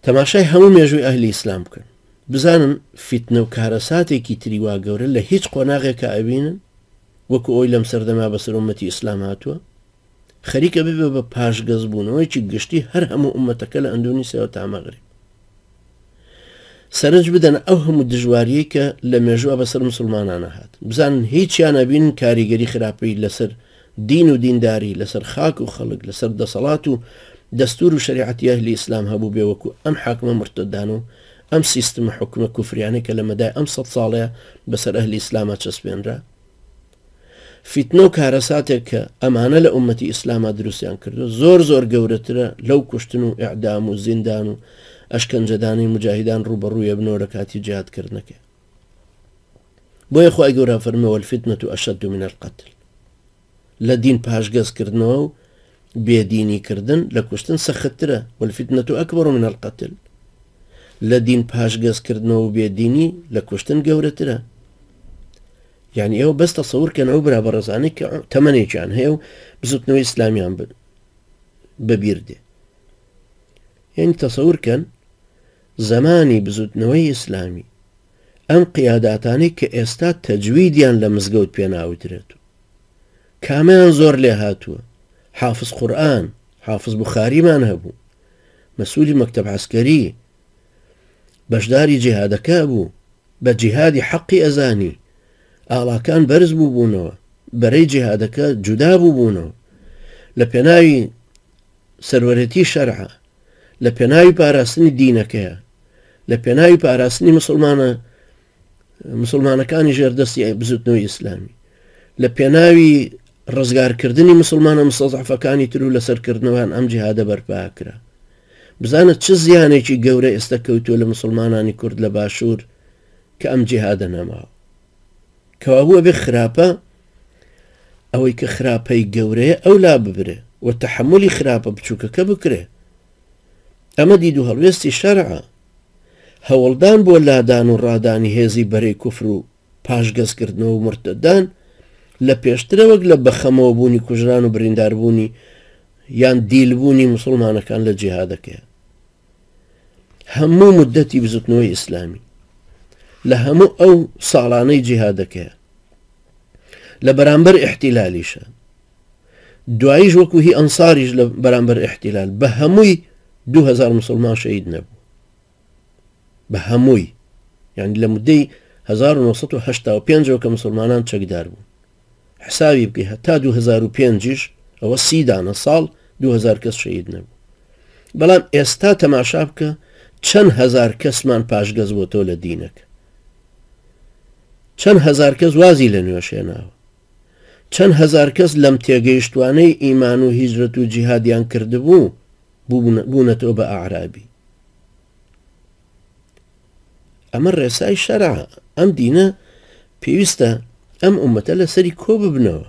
تەماشای هەموو مێژووی ئەهلی ئیسلام بکەن بزانن فیتنە و کارەساتێکی تری وا گەورە لە هیچ قۆناغێکە ئەبینن وەکو ئەوی لەم سەردەما بەسەر ئومەتی ئیسلام هاتووە خەریکە ببێ بە پاشگەزبوونەوەیکی گشتی هەر هەموو ئومەتەکە لە ئەندونیسیاوە تامەغرب سەرنج بدەنە ئەو هەموو دژواریەی کە لە مێژووە بەسەر مسلمانانە هات بزانن هیچیان ئەبینن کاریگەری خراپەی لەسەر دین و دینداری لەسەر خاک و خەڵک لەسەر دەسەڵات و دەستور و شەریعەتی ئەهلی ئیسلام هەبوو بێ وەکو ئەم حاکمە مرتەدان و ئەم سیستمە حکومە کوفریانەی کە لە مەدای ئەم سەد ساڵەیە بەسەر ئەهلی ئیسلاما چەسپێنرا فیتنە و کارەساتێک کە ئەمانە لە ئومەتی ئیسلاما دروستیان کردوە زۆر زۆر گەورەترە لەو کوشتن و ئیعدام و زیندان و ئەشکەنجەدانی موجاهیدان ڕووبەڕووی ئەبنەوە لە کاتی جیهاد کردنەکەی بۆیە خوای گەورە فەرمووە الفتنە اشد من القتل لە دین پاشگەز کردنەوە و بێ دینی کردن لە کوشتن سەخت ترە، والفتنە اکبر من القتل لە دین پاشگەز کردنەوە و بێ دینی لە کوشتن گەورەترە. یعنی ئێوە بەس تەسەور کەن ئەو برا بەڕێزانەی کە تەمەنێکیان هەیە و بزوتنەوەی ئیسلامیان بەبیر دێ یعنی تەسەور کەن زمانی بزوتنەوەی ئیسلامی ئەم قیاداتانی کە ئێستا تەجویدیان لە مزگەوت پێناوترێت و کامیان زۆر لێهاتووە؟ حافز قورئان، حافز بوخاریمان هەبوو، مەسوولی مەکتەب عەسکەری، بەشداری جیهادەکە بوو، بە جیهادی حەقی ئەزانی، ئاڵاکان بەرز بوو بوونەوە، بەرەی جیهادەکە جودا بوو بوونەوە، لە پێناوی سەروەرەتی شەرعە، لە پێناوی پاراستنی دینەکەیە، لە پێناوی پاراستنی مسلمانە مسلمانەکانی ژێر دەستی ئەی بزوتنەوەی ئیسلامی لە پێناوی ڕزگارکردنی مسلمانە مسەزعفەکانی تر و لەسەرکردنەوەیان ئەم جیهادە بەرپاکرا بزانە چ زیانێکی گەورە ئێستا کەوتووە لە مسلمانانی کورد لە باشوور کە ئەم جیهادە نەماوە کەوابووە بێ خراپە ئەوەی کە خراپەی گەورەیە ئەو لا ببرێ و تحملی خراپە بچووکەکە بکرێ ئەمە دید و هەڵوێستی شەرعە هەوڵدان بۆ لادان و ڕادانی هێزی بەرەی کوفر و پاشگەزکردنەوە و مورتەدان لە پێشترە وەک لە بەخەمەوە بوونی کوژران و بریندار بوونی یان دیل بوونی موسڵمانەکان لە جیهادەکەیان هەموو مدەتی بزوتنەوەی ئیسلامی لە هەموو ئەو ساڵانەی جیهادەکەیە لە بەرامبەر احتیلالیشە دواییش وەکو هی ئەنساریش لە بەرامبەر ئیحتیلال بە هەمووی دوو هەزار مسلمان شەهید نەبوو بە هەمووی یعنی لە مدەی 1995 کە مسلمانان چەکدار بوون حساوی بکەی هەتا 2005 ئەوە سیدانە ساڵ 2000 کەس شەید نەبوو بەڵام ئێستا تەماشا بکە چەند هزار کەسمان پاشگەز بۆ تۆ لە دینەکە چەند هزار کەس وازی لە نوێشێناوە چەند هەزار کەس لەم تێگەیشتوانەی ئیمان و هیجرەت و جیهادیان کردبوو بوون بوونەتەوە بە ئەعرابی ئەمە ڕێسای شەرع ئەم دینە پێویستە ئەم ئومەتە لەسەری کۆ ببنەوە